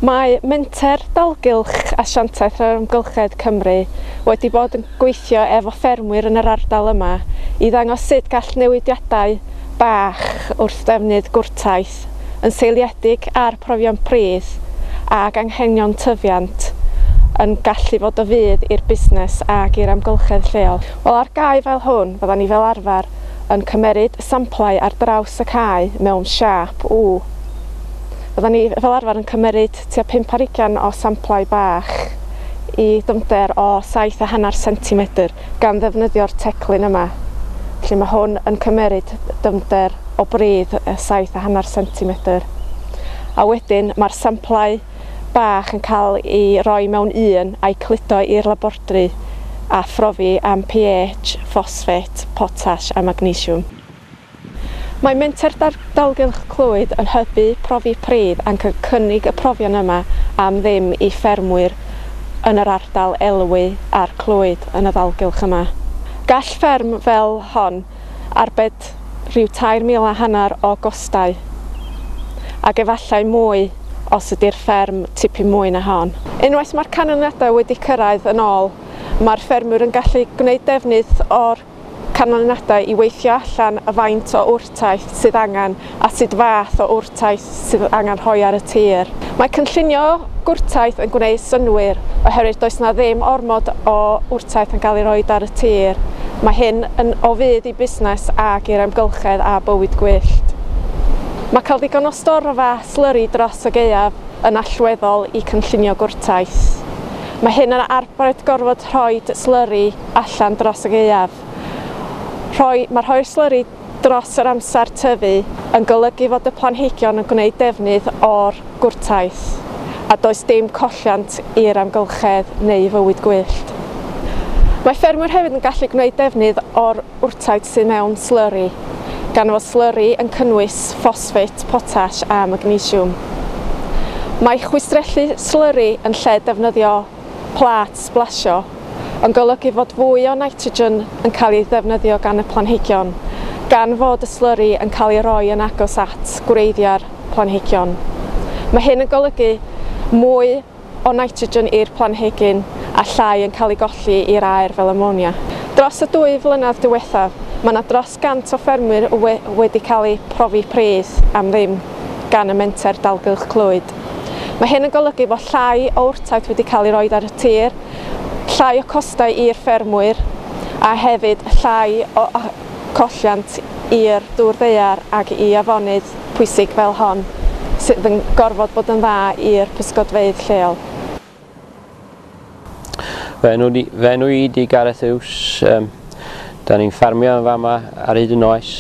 Mae Menter Dalgylch Asiantaeth yr Amgylchedd Cymru wedi bod yn gweithio efo ffermwyr yn yr ardal yma i ddangos sut gall newidiadau bach wrth ddefnydd gwrtaith yn seiliedig ar profion pridd ag anghenion tyfiant yn gallu fod o fudd i'r busnes ag i'r amgylchedd lleol. Wel, ar gae fel hwn, fyddan ni fel arfer yn cymeryd samplau ar draws y cae mewn siâp U. Fyddan ni fel arfer yn cymeryd tua pump ar ugain o samplau bach i dyfnder o saith a hanner centimetr gan ddefnyddio'r teclyn yma. Felly mae hwn yn cymeryd dyfnder o bridd saith a hanner centimetr. A wedyn mae'r samplau bach yn cael ei roi mewn un a'i cludo i'r labordri a phrofi am pH, ffosffet, potas a magnesiwm. Mae Menter Dalgylch Clwyd yn hybu profi pridd ac yn cynnig y profion yma am ddim i ffermwyr yn yr ardal elwy a'r Clwyd yn y ddalgylch yma. Gall fferm fel hon arbed rhyw tair mil a hanner o gostau, ac efallai mwy os ydy'r fferm tipyn mwy na hon. Unwaith mae'r canlyniadau wedi cyrraedd yn ôl, mae'r ffermwyr yn gallu gwneud defnydd o'r canlyniadau i weithio allan y faint o wrtaith sydd angen a sut fath o wrtaith sydd angen rhoi ar y tir. Mae cynllunio gwrtaith yn gwneud synnwyr oherwydd does 'na ddim ormod o wrtaith yn cael ei rhoi ar y tir. Mae hyn yn o fudd i busnes ac i'r amgylchedd a bywyd gwyllt. Mae cael digon o storfa slyri dros y gaeaf yn allweddol i cynllunio gwrtaith. Mae hyn yn arbed gorfod rhoi slyri allan dros y gaeaf. Rhoi, mae rhoi'r slyri dros yr amser tyfu yn golygu fod y planhigion yn gwneud defnydd o'r gwrtaith a does dim colliant i'r amgylchedd neu fywyd gwyllt. Mae ffermwyr hefyd yn gallu gwneud defnydd o'r wrtaith sydd mewn slyri, gan fod slyri yn cynnwys ffosffit, potas a magnesiwm. Mae chwistrellu slyri yn lle defnyddio plât sblasio, yn golygu fod fwy o nitrogen yn cael ei ddefnyddio gan y planhigion, gan fod y slyri yn cael ei roi yn agos at gwreiddiau'r planhigion. Mae hyn yn golygu mwy o nitrogen i'r planhigyn a llai yn cael ei golli i'r aer fel amonia. Dros y dwy flynedd diwethaf, mae yna dros 100 o ffermwyr wedi cael eu profi pridd am ddim gan y Menter Dalgylch Clwyd. Mae hyn yn golygu bod llai o wrtaith wedi cael ei roed ar y tir, llai o costau i'r ffermwyr a hefyd llai o colliant i'r dŵr ddaear ac i afonydd pwysig fel hon sydd yn gorfod bod yn dda i'r pysgodfeydd lleol. Fy enw, di, fy enw i di Gareth Hughes. Um, da ni'n ffarmio yn fama ar hyd y noes.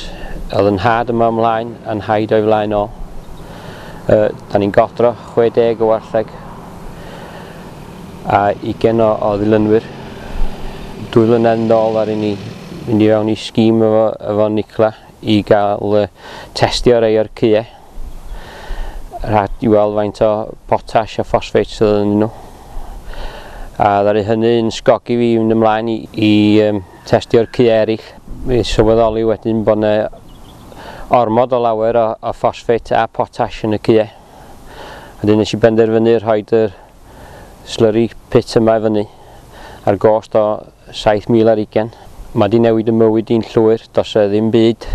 Oedd yn had yma ymlaen a'n haid o'i flaen ôl. Uh, da ni'n godro 60 o wartheg a ugen o, o ddilynwyr. Dwy flynedd yn ôl ar ni mynd i fewn i sgîm efo, efo Nicla i gael uh, testio rei o'r cyau. Rhaid i weld faint o potash a ffosfeit sydd yn nhw. A ddaru hynny yn sgogi fi yn ymlaen i, i um, testio'r cu eraill. Mi sylweddoli wedyn bod yna ormod o lawer o, o ffosfeit a potash yn y cue. Wedyn nes i benderfynu rhoi yr slurry pit yma i fyny, ar gost o 7,000 ar ugain. Mae 'di newid y mywyd i'n llwyr, does 'na ddim byd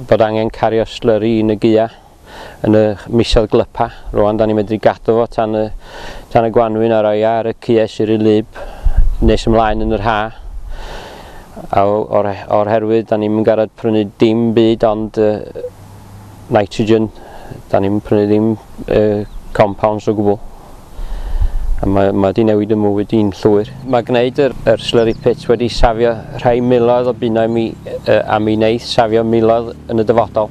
bod angen cario slurry yn y gua yn y misoedd glypa, rwan 'da ni'n medru gadw fo tan y, tan y gwanwyn a roi ar y cue sy'n rhy lib nes ymlaen yn yr ha. A o'r, o'r herwydd 'da ni'n mynd garad prynu dim byd ond uh, nitrogen, da ni'n prynu ddim uh, compounds o gwbl. A mae, mae wedi newid y mywyd i'n llwyr. Mae gwneud yr, yr slurry pit wedi safio rhai miloedd o bunnau mi, uh, a mi wneud safio miloedd yn y dyfodol.